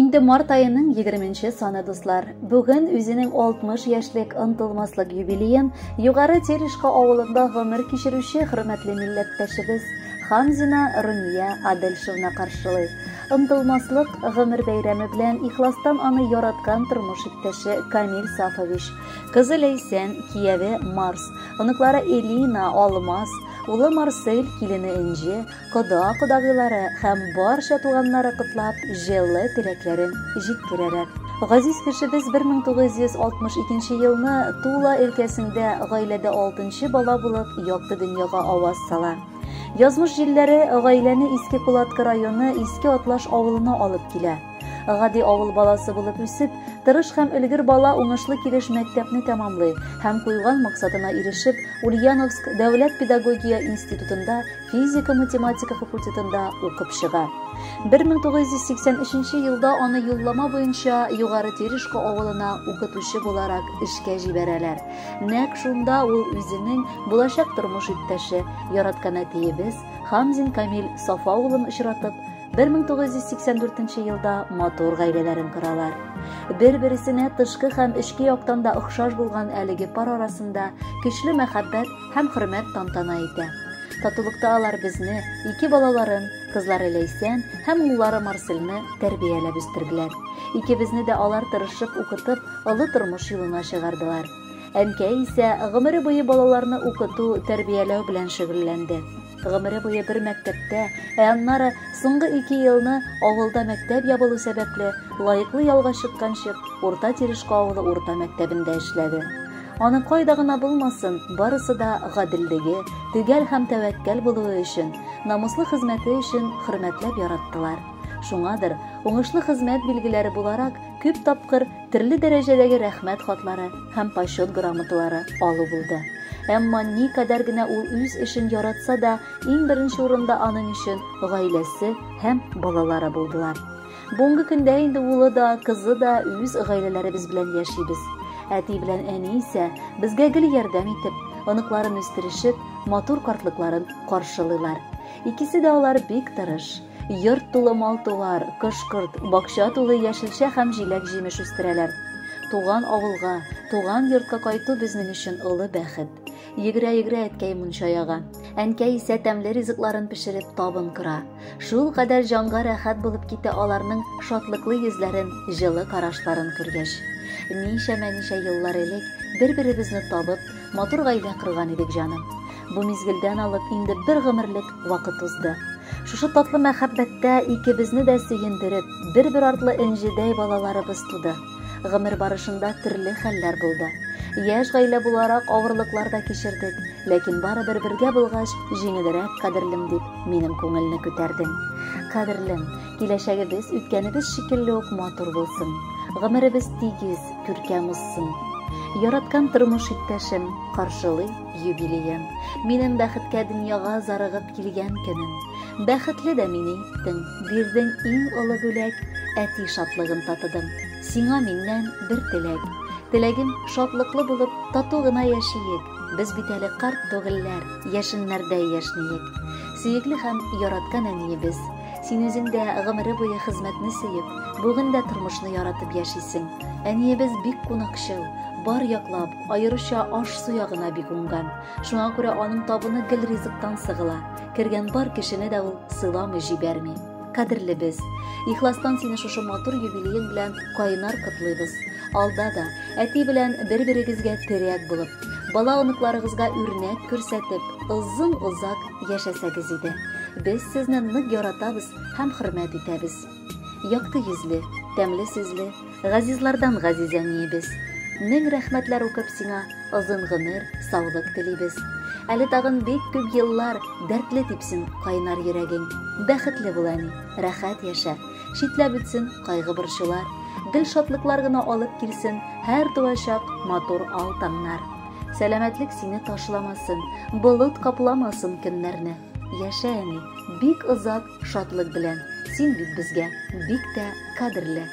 Инде март аеның 20 саны дуслар. Бүген үзенең 60 яшьлек онтылмаслык юбилеен Югары Терешка авылында гомер кичерүче хөрмәтле милләттәшебез Хамзина Румия Адельшевна каршылый. Онтылмаслык гомер бәйрәме белән ихластан аны яраткан тормыш иптәше Камил Сафович, кызы Ләйсән, кияве Марс, оныклары Элина, Алмаз, улы Марсель, килене Энҗе, кода-кодагыйлары һәм барча туганнары котлап, җылы теләкләрен җиткерәләр. Газиз кешебез 1962 елны Тула өлкәсендә гаиләдә алтынчы бала булып якты дөньяга аваз сала. Язмыш җилләре гаиләне Иске Кулаткы районы Иске Атлаш авылына алып килә. Гади авыл баласы булып үсеп, тырыш һәм өлгер бала уңышлы килеш мәктәпне тәмамлый һәм куйган максатына ирешеп, Ульяновск дәүләт педагогия институтында физика-математика факультетында укып чыга. 1983 елда аны юллама буенча Югары Терешко авылына укытучы буларак эшкә җибәрәләр. Нәк шунда ул үзенең булачак тормыш иптәше, яраткан әтиебез Хамзин Камил Сафа улын очратып, 1984 елда матур гаиләләрен коралар. Бер-бересенә тышкы һәм эчке яктан да охшаш булган әлеге пар арасында көчле мәхәббәт һәм хөрмәт тантана итә. Татулыкта алар безне, ике балаларын, кызлары Ләйсән һәм уллары Марселне тәрбияләп үстерделәр. Икебезне дә алар тырышып укытып, олы тормыш юлына чыгардылар. Әнкәй исә гомере буе балаларны укыту, тәрбияләү белән шөгыльләнде. Гомере буе бер мәктәптә, ә аннары соңгы ике елны авылда мәктәп ябылу сәбәпле, лаеклы ялга чыкканчык, Урта Терешко авылы урта мәктәбендә эшләде. Аны кайда гына булмасын, барысы да гаделлеге, төгәл һәм тәвәккәл булуы өчен, намуслы хезмәте өчен хөрмәтләп яраттылар. Шуңадыр, уңышлы хезмәт билгеләре буларак, күп тапкыр Төрле дәрәҗәдәге рәхмәт хатлары һәм почет грамоталары алу булды. Әмма никадәр генә ул үз эшен яратса да, иң беренче урында аның өчен гаиләсе һәм балалары булдылар. Бүгенге көндә инде улы да, кызы да үз гаиләләребез белән яшибез. Әти белән әни исә безгә гел ярдәм итеп, оныкларын үстерешеп, матур картлыкларын каршылыйлар. Икесе дә алар бик тырыш. Йорт тулы мал-туар, кош-корт, бакча тулы яшелчә һәм җиләк-җимеш үстерәләр. Туган авылга, туган йортка кайту безнең өчен олы бәхет. Йөгерә-йөгерә әткәй мунча яга. Әнкәй исә тәмле ризыкларын пешереп табын кора. Шул кадәр җанга рәхәт булып китә аларның шатлыклы йөзләрен, җылы карашларын күргәч. Ничәмә-ничә еллар элек, бер-беребезне табып, Матур гаилә корган идек, җаным. Бу мизгелдән алып инде бер гомерлек вакыт узды. Шушы татлы мәхәббәттә икебезне дә сөендереп, бер-бер артлы энҗедәй балаларыбыз туды. Гомер барышында төрле хәлләр булды. Яшь гаилә буларак авырлыклар да кичердек, ләкин барыбер бергә булгач, җиңелрәк, кадерлем, дип минем күңелне күтәрдең. Кадерлем, Киләчәгебез үткәнебез шикелле үк матур булсын. Гомеребез тигез, күркәм узсын. Яраткан тормыш иптәшем, каршылый юбилеем. Минем бәхеткә дөньяга зарыгып килгән көнем. Бәхетле дә мине иттең, бирдең иң олы бүләк, әти шатлыгын татыдым. Сиңа миннән бер теләк. Теләгем шатлыклы булып, тату гына яшиек. Без бит әле карт түгелләр, яшеннәрдәй яшниек. Сөекле һәм яраткан әниебез, Син үзең дә гомере буе хезмәтне сөеп, бүген дә тормышны яратып яшисең. Әниебез бик кунакчыл, бар яклап, аеруча аш-су ягына бик уңган. Шуңа күрә аның табыны гел ризыктан сыгыла. Кергән бар кешене дә ул сыйламый җибәрми. Кадерле без. Ихластан сине шушы матур юбилеең белән кайнар котлыйбыз. Алда да әти белән бер-берегезгә терәк булып, бала оныкларыгызга үрнәк күрсәтеп, озын-озак Яшәсәгез иде. Без сезне нык яратабыз һәм хөрмәт итәбез. Якты йөзле, тәмле сүзле, газизлардан газиз әниебез. Мең рәхмәтләр укып сиңа озын гомер, саулык телибез. Әле тагын бик күп еллар дәртле типсен кайнар йөрәгең. Бәхетле бул, әни, рәхәт яшә. Читләп үтсен кайгы борчулар. Гел шатлыклар гына алып килсен һәр туачак матур ал таңнар. Сәламәтлек сине ташламасын, болыт капламасын көннәрне. Яшә, әни, бик озак шатлык белән. Син бит безгә бик тә кадерле.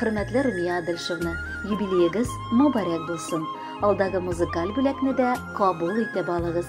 Хөрмәтле Румия Адельшевна, юбилеегыз мобарәк булсын. Алдагы музыкаль бүләкне дә кабул итеп алыгыз.